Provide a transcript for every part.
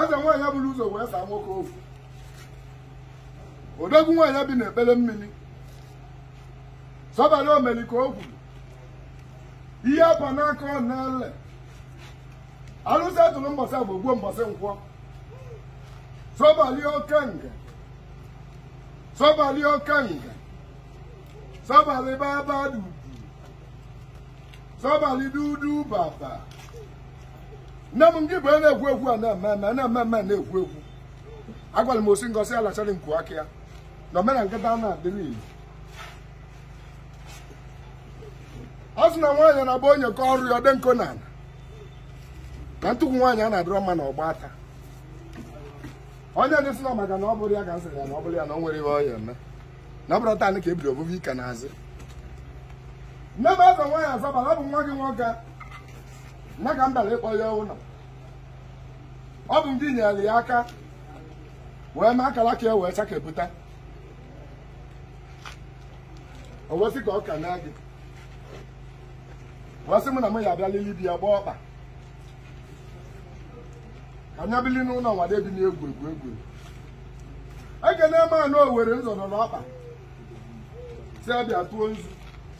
eze nwaanyị buru ụzọ wee saa nwoke ofu odogwu nwaanyị bi n'ikpere mmiri sọbali omere ka o kwuru ihe a pa n'aka ọ na-ele alụsị atụrụ mbọsị afọ gbuo mbọsị nkwọ sọbali okenga sọbali okenga sọbali baba dudu sọbali dudu baba nne m gị bụ onye na-ekwu ekwu a na-eme eme na-eme eme na-ekwu ekwu agwara m osi ngosi alachara nku aka ya na omena nkịta na-adịrị ilu ọ sị na nwaanyị na-agba onye ka ọrụ ya ọ dị nkụ na ala na ntụkwu nwaanyị a na-adịrọ mma na ọgba ata onye ndị sị na maka na ọ bụrụ ya ka nsịrị ya na ọ bụrụ ya na ọ nwere ihe ọ ya-eme na ọ bụrụ taa ka ebiri obubu ike na-azị nne m eze nwaanyị asọbalị ọ bụ nwa gị nwoke nna ka m bịara ịkpọ ya ụlọ ọ bụ ngị nyere ya aka wee mee akaraka ya wee chakepụta o wesị ka ọ ka na gị wee sị m na m ya abịa lili bi ya gbaa ọkpa ka nya bili n'ụlọ nwada ebi na-egwu egwu egwu ekene m ana Owere nzu nọ n'ọkpa sị a bịa tụọ nzu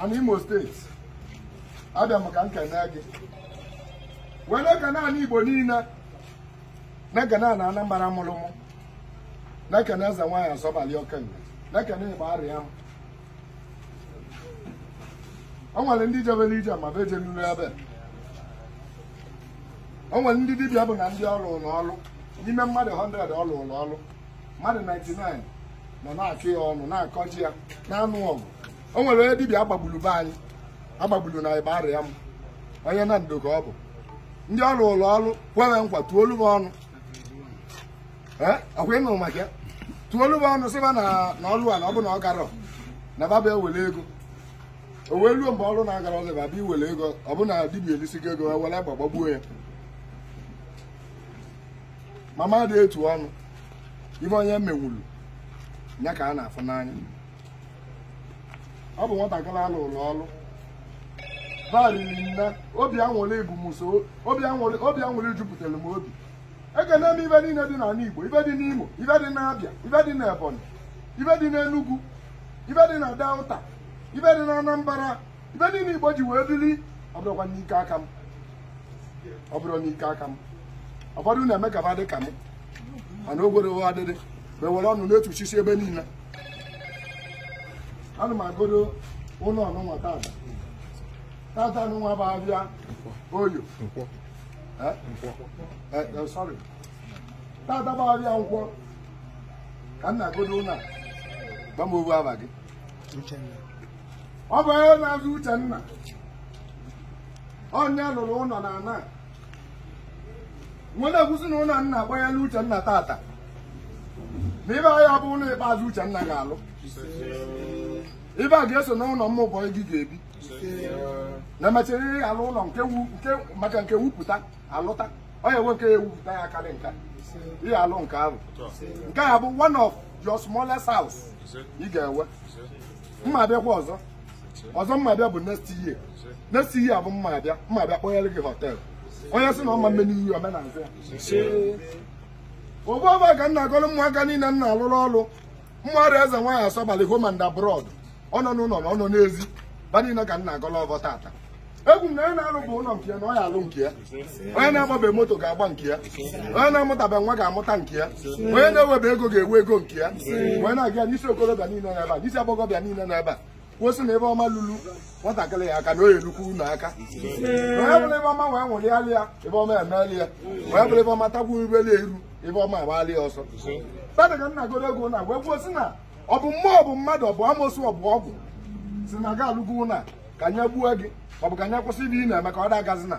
ana Imo steeti abịa m ka m kenee gị wee na-ekene ala Igbo niile na-ekene ala Anambra mụrụ mụ na-ekene eze nwaanyị asọbalị okenga na-ekene Igbariam o nwere ndị jebere ije ma be jenuru ebe o nwere ndị dibịa bụ na ndị ọ rụụrụ ọrụ n'ime mmadụ 100 ọ rụụrụ ọrụ mmadụ 99 nọ na-akọ ya ọnụ na-akọji ya na-anụ ọgụ o nwere onye dibịa a gbagburu be anyị a gbagburu na Igbariam onye Nando ka ọ bụ ndị ọ rụụrụ ọrụ kwere nkwa tuolu m ọnụ ee ọ kwa ị nụ maka ya tuolu m ọnụ sịba na na ọrụ a na ọ bụ na ọ garọ na baba ewere ego o wee ruo mgbe ọrụ na-agara ọzọ baba iwere ego ọ bụ na dibịa elisigo ego were egbe gbagbuo ya ma m adị etu ọnụ ife onye menwulu ya ka a na-afụ n'anya ọ bụ nwatakịrị a rụụrụ ọrụ ba riri nne obi anwụrị bụ mụ sọ obi anwụrị jupụtara m obi ekene m ife niile dị n'ala Igbo ife dị n'Imo ife dị n'Abịa ife dị n'Ebonyi ife dị n'Enugu ife dị na Delta ife dị na Anambra ive niile Igbo ji wee bili ọ bụrọkwa n'ike aka m ọ bụrọ n'ike aka m ụfọdụ na-eme ka ba dị ka m mana ogwere ụgha adịrị ba were ọnụ na-etuchisi ebe niile ana m agọdo ụlọ nụnwa tata tata nụnwa bụ avịa Oye Eh? Eh, eh, sorry. tata bụ avịa Nkwọ ka m na-agọdo ụlọ a gwa m ovu ava gị ọ bụ onye na-aza Uchenna onye lụrụ ụlọ na ana nwere ekwusi na ụlọ nna agbanyela Uchenna tata na ive a ọ bụ ụlọ ikpeazụ Uchenna ga-alụ ive a ga-eso na ụlọ ụmụ boy gị ga-ebi na mechara alụ ụlọ nke maka nke wupụta alụta onye nwoke ewupụta ya karị nka ị ya-alụ nke ahụ nke a bụ one of your smallest house ị ga-enwe mma abịakwa ọzọ ọzọ mma abịa bụ next year next year bụ mma abịa mma abịa kpọnyere gị hotel onye sị na ọ ma mme n'iyi omenazị ya ọ bụ ọvọ ka m na-agọrọ ụmụaka niile m na-alụrụ ọrụ mmadụ eze nwaanyị asọbalị home and abroad ọ nọ n'ụlọ na ọ nọ n'ezi ba niile ka m na-agọlụ ọvọ tata ekwu m na onye na-alụbe ụlọ nke ya na ọ ya-alụ nke ya onye na-agbabe moto ga-agba nke ya onye na-amụtabe nwa ga-amụta nke ya onye na-enwebe ego ga-enwe ego nke ya onye na-aga n'isi okorobịa niile n'ebe a n'isi agbọghọbịa niile n'ebe a kwusi na ive ọma lulu nwatakịrị ya aka na ọ ya-elukwu unu aka onye vụrụ ive ọma wee nwụrịalị ya ive ọma emeeli ya onye vụrụ ive ọma tagbu irubeli eru ive ọma agbalị ya ọsọ tata ka m na-agọrọ ego na wee kwuo sị na ọ bụ mmụọ ọ bụ mmadụ ọ bụ amosu ọ bụ ọgwụ sị na ga alụgo na ka anyị gbuo gị ọ bụ ka anyị kwụsị ive ị na-eme ka ọ da-agazi na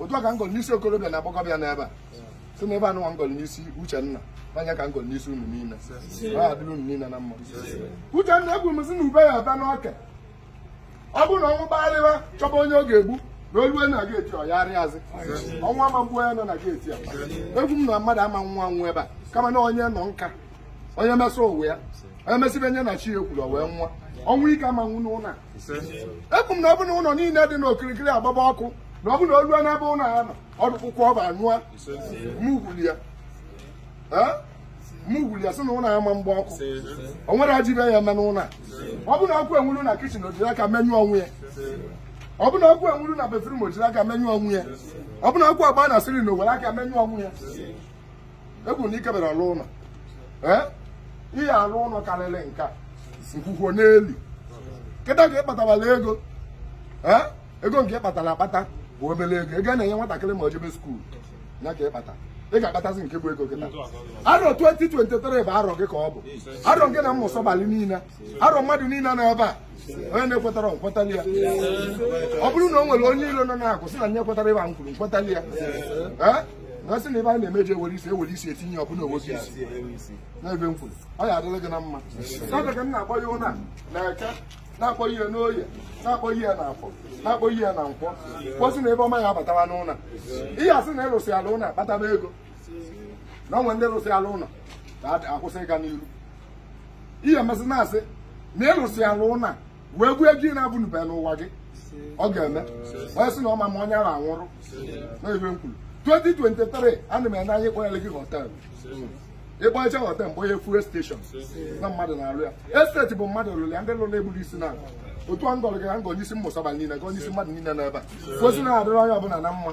otu a ka m gọrọ n'isi okorobịa na agbọghọbịa n'ebe a sị na ive nụnwa m gọrọ n'isi Uchenna na ya ka m gọrọ n'isi unu niile ọ adịrị unu niile na mma Uchenna ekwu m sị na ube ya aba n'ọka ọ bụrụ na ọnwụ kpagharịwa chọba onye ọ ga-egbu na o lue na geeti ọ yarịa azị ọnwụ ama mgbu onye nọ na geeti a ekwu m na mmadụ ama nwa ọnwụ ebe a kama na onye nọ nka onye mesịa ụwa ya onye mesịa ive onye na chi ya kwuru o wee nwa ọnwụ ike ama nwụ n'ụlọ a ekwu m na ọ bụ na ụlọ niile dị n'okirikiri agbaba ọkụ na ọ bụ na o lue n'ebe ụlọ a nọ ọdụkwụkwọ ọba anyụa mugwuli ya Eh? mugwuli ya sị na ụlọ a ama mgba ọkụ o nwerọ ajọ ive ya-eme n'ụlọ a ọ bụ na ọkụ enwuru na kitchen o jiri aka menyụọ onwe ya ọ bụ na ọkụ enwuru na bedroom o jiri aka menyụọ onwe ya ọ bụ na ọkụ agba na ceiling o were aka menyụọ onwe ya ekwu m na ikebere ọrụ ụlọ ee ị ya-arụ ụlọ karịrị nke a nkwukwo n'elu kịta ka ị kpatabala ego ee ego nke ị kpatara akpata bụ obere ego ego a na-enye nwatakịrị ma o jebe school ya ka ị kpata ị ga-akpatazi nke bụ ego kịta arọ 2023 bụ arọ gị ka ọ bụ arọ gị na mmụsọ balị niile arọ mmadụ niile nọ ebe a onye na-ekwetara m kwetali ya ọ bụrụ na o nwere onye iro nọ na-akụ sị na nye kwetara ibe m kwuru m kwetali ya Ee? na sị na ebe a na-emeji ewere isi ewere isi etinye ọ bụla o nwee isi n'ebe m kwuru ọ ya adịrị gị na mma n'oge ka m na-akpọye ụnọ a na eke na-akpọye n'oye na-akpọye na afọ na-akpọye na nkwọ kwuo sị na ibe ọma ya abatawa n'ụnọ a ihe a sị na ị rụsịala ụnọ akpataba ego na o nwere ndị rụsịala ụlọ na-akwụsị ịga n'iru ihe emesị na-asị na ị lụsịana ụnọ a wee gbuo ego ị na-abụnube n'ụwa gị ọ ga-eme onye sị na ọ ma-eme onye ahụ anwụrụ na ibe m kwuru 2023 ana m ene anya ịkpọyelị gị họtelụ ị kpọyecha họtel m kpọye fuel steshọn na mmadụ na-arụ ya esteti bụ mmadụ lụrụ ya ndị lụrụ eburo isi na otu a m gọrọ gị ka m gọ n'isi mmụsaba niile gọ n'isi mmadụ niile nọ ebe a kwuo sị ya na-adịrị onye ọbụla na mma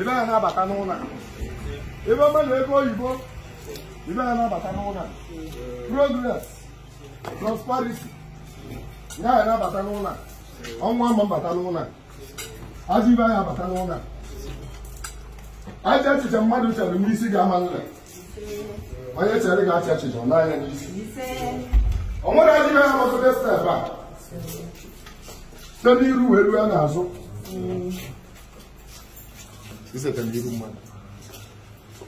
ibe ya na-abata n'ụlọ a. ibe ọma na ego oyibo ibe ya na-abata n'ụlọ a. progress prosperity ya ya na-abata n'ụlọ a. ọnwụ ama abata n'ụlọ a. ajọ ibe ya abata n'ụlọ a. ajọ echiche mmadụ chere n'isi gị ama ele onye chere gị ajọ echiche ọ naa ya n'isi o nwere ajọ ibe ya gbasoro step a site n'iru wee ruo n'azụ iseta n'iru mmadụ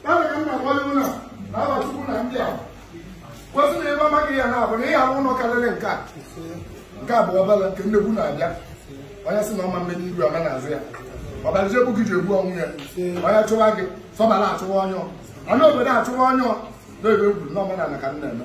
Kama ka nna kwali ụlọ na aba tupu na ndị a. Kwuo sị na ebe amaghị ya na abụ na ị ya-arụ ụlọ karịrị nke a. Nke a bụ obele nke nnekwu na-abịa. Onye sị na ọ ma-eme n'iru ama n'azụ ya. Ọ bịara ji egbu gị ji egbu onwe ya. Onye chụwa gị, ọsọ ọbara achụwa onye ahụ. Anụ obodo achụwa onye ahụ. Na-ebe egwu na omenala ka m na-eme.